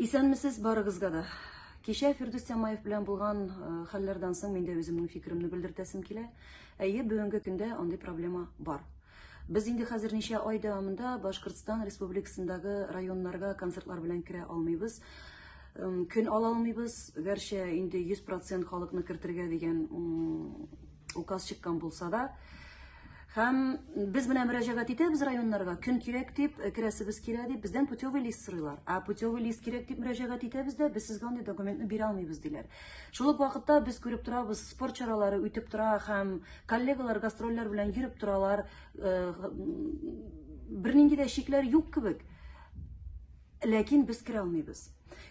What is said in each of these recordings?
Исәнмесез барыгызга да. Кичә Фирдүс Тямаев белән булган э, хәлләрдән соң мин дә үземнең фикеремне белдертәсем килә. Әйе, бүгенге көндә андый проблема бар. Без инде хәзер ничә ай дәвамында Башкортстан республикасындагы районнарга концертлар белән керә алмыйбыз. Көн ала алмыйбыз, гәрчә инде 100% халыкны кертергә дигән указ чыккан булса да, һәм без менә мөрәҗәгать итәбез районнарга, көн кирәк дип, э, керәсебез килә дип, бездән путевый лист сорыйлар. Ә путевый лист кирәк дип мөрәҗәгать итәбез дә, без сезгә андый документны бирә алмыйбыз диләр. Шул ук вакытта без күреп торабыз, спорт чаралары үтеп тора һәм коллегалар гастрольләр белән йөреп торалар. Э, бернинди дә шикләр юк кебек. Ләкин без керә алмыйбыз.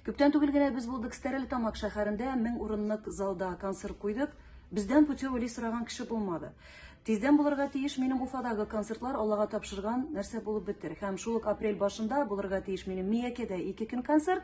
Күптән түгел генә без булдык Стерлитамак шәһәрендә 1000 урынлык залда концерт куйдык. Бездән путевый сораган кеше булмады. Тиздән булырга тиеш минем Уфадагы концертлар Аллага тапшырган нәрсә булып бетер. Һәм шул ук апрель башында булырга тиеш минем Миякедә ике көн концерт.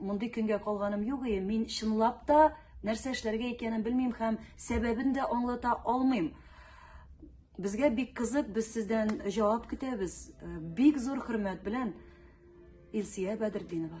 Мондый көнгә калганым юк и, мин чынлап та нәрсә эшләргә икәнен белмим һәм сәбәбен дә аңлата алмыйм. Безгә бик кызык, без сездән җавап көтәбез. Э, бик зур хөрмәт белән Илсия Бәдердинова.